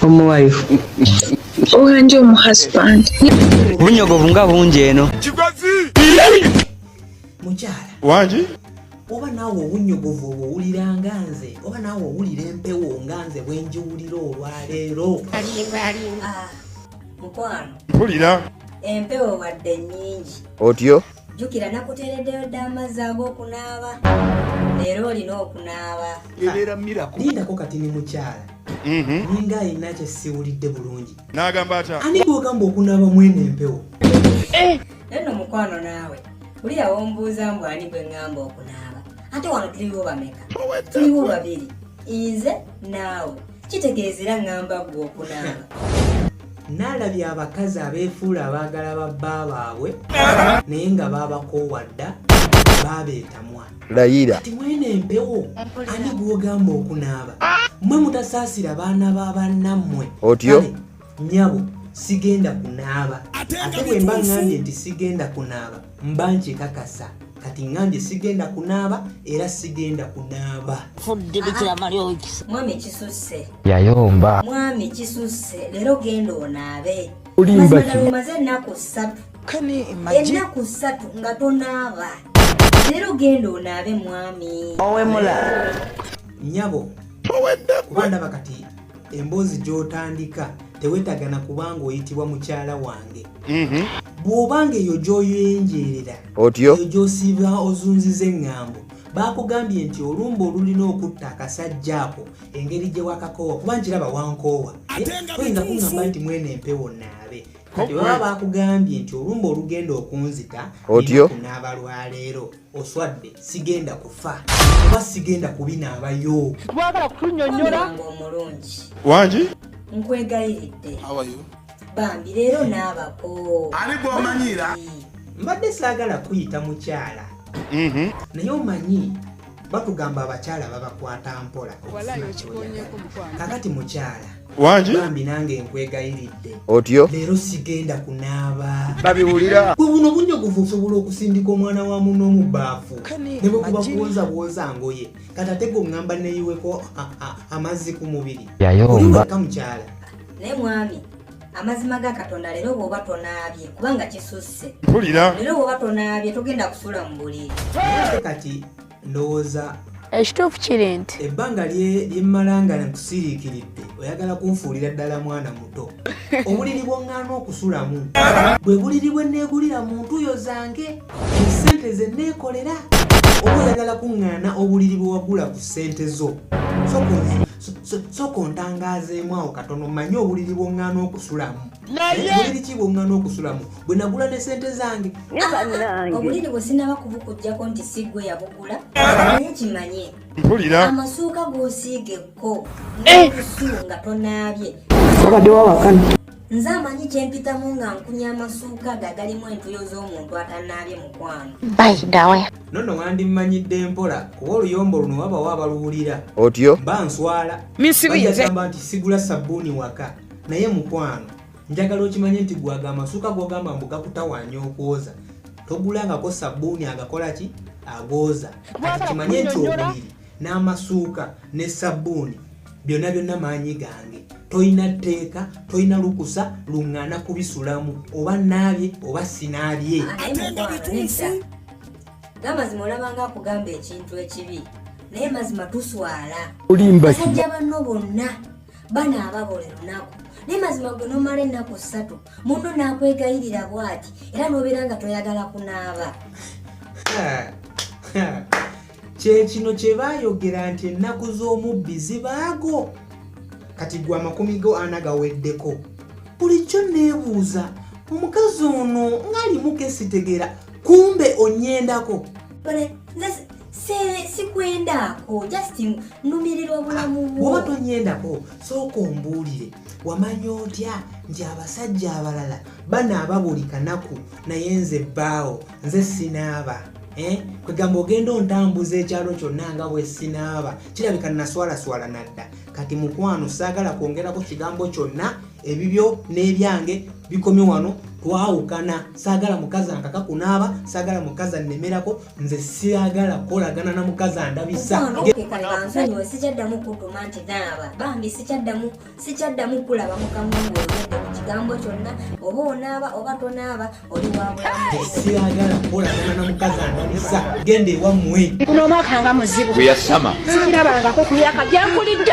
omuwayo owanje omu husband obunyogovu nga bungi eno mukyala wangi oba naawe obunyogovu obwo owulira nga nze oba naawe owulira empewo nga nze bwenjiwulira olwaleero ah, mukwano mpulira empewo wadde nyingi otyo jukira nakutereddeyo dda amazzi ag'okunaaba leero olina okunaaba lindako kati ni mukyala Mhm. ninga alina kyesiwulidde bulungi nagamba atya ani gwogamba okunaaba mwene empewo eh! neno mukwano naawe oli yawombuuza mbu ani gwe ŋŋamba okunaaba ate wano tuliwo bameka tuliwo babiri inze naawe kitegeeza era ŋŋamba gwe okunaaba naalabye abakazi abeefuula abaagala babba baabwe naye nga baabakoowa dda baabeetamwa layira kati mwene empewo ani gwogamba okunaaba mwe mutasaasira baana ba bannammwe otyo nyabo sigenda kunaaba ate bwe mba ŋŋambye nti sigenda kunaaba mba nkikakasa kati ŋŋambye sigenda kunaaba era sigenda kunaaba yayomba mwami kisusse leero genda onaabe olimba ki ennaku ssatu nga tonaaba Leero genda onaabe mwami. Owemula. Nyabo. Owedda kuba ndaba kati emboozi gy'otandika tewetagana kubanga oyitibwa mukyala wange. Mhm. Bw'obanga eyo gy'oyenjeerera. Otyo. Eyo gy'osiiba ozunziza eŋŋambo. Baakugambye nti olumba olulina okutta akasajja ako engeri gye wakakoowa kuba nkiraba wankoowa. Eh, toyinza kuŋŋamba nti mwene empewo naabe. kati baba bakugambye nti olumba olugenda okunzita otyo kunaaba lwaleero oswadde sigenda kufa oba sigenda kubinaabayo twagala kutunyonyola omulungi wangi nkwegayiridde bambi leero naabako ani gwomanyiira mbadde saagala kuyita mukyala mhm. naye omanyi batugamba abakyala babakwata mpola kakati mukyala bambi nange nkwegayiridde otyo leero sigenda kunaaba babiwulira gwe buno bunyogovu osobola okusindika omwana wa muno mu baafu ne bwe kuba kuwoza bwoza ngoye kati ate gwe oŋŋamba neyiweko amazzi ku mubiri yayomba mukyala naye mwami amazima ga katonda leero bwoba tonaabye kubanga kisusse mpulira leero bwoba tonaabye togenda kusula mu buliri kati ndowooza ekituufu kiri nti ebbanga lyemmala nga nkusiriikiridde oyagala kunfuulira ddala mwana muto obuliri bwoŋŋaana okusulamu bwe buliri bwe nneegulira mu ntuyo zange esente ze nneekolera oba oyagala kuŋŋaana obuliri bwe wagula ku ssente zo sooka ontangaazeemu awo katono manye obuliri bwoŋŋaana okusulamu nayebuliri ki bwoŋŋaana okusulamu bwe nagula ne sente zange obuliri bwe sinaba kubukujjako nti si gwe yabugula naye kimanye mpulira amasuuka gosiigekko eh! nokusu nga tonaabye obadde wawakana nze amanyi kyempitamu nga nkunya amasuuka ge agalimu entuyo z'omuntu atanaabye mukwano baidawe nono wandimmanyidde mpola kuba oluyombo luno wabawo abaluwulira otyo ba nswala misibiagamba nti sigula sabbuuni waka naye mukwano njagala okimanye nti gwaga amasuuka gogamba mbu gakutawanya okwoza togulangako sabbuuni agakola ki agooza kati kimanye nti obuliri n'amasuuka ne sabbuuni byonna byonna maanyi gange tolina tteeka tolina lukusa luŋŋaana kubisulamu oba naabye oba sinaabye gamazima olabanga akugamba ekintu ekibi naye mazima tuswala basajja banno bonna banaaba buli lunaku naye mazima gwe nomala ennaku ssatu munno n'akwegayirira bwati era n'obeera nga toyagala kunaaba kye kino kye baayogera nti ennaku z'omubbi zibaago kati gwe amakumi go ana gaweddeko bulijjo neebuuza omukazi ono ng'alimu kesitegeera kumbe onyendako sikwendaako just numirirwa bulamu bwoba tonyendako sooka ombuulire wamanya otya nti abasajja abalala banaaba buli kanaku naye nze bbaawo nze sinaaba eh? kwegamba ogenda ontambuza ekyalo kyonna nga bwesinaaba kirabika naswalaswala nadda kati mukwano saagala kwongerako kigambo kyonna ebibyo n'ebyange bikomi wano twawukana saagala mukazi ankaka kunaaba saagala mukazi annemerako nze siagala kukolagana na mukazi andabisa sikyaddamu kulaba mukamwa ng'oyogedde ku kigambo kyonna oba onaaba oba tonaaba oli wabulamusiyagala kukolagana na mukazi ananiza genda ewammwe kuno omwaka nga muzibu gwe yasama sikirabangako kuyaka gyakulidde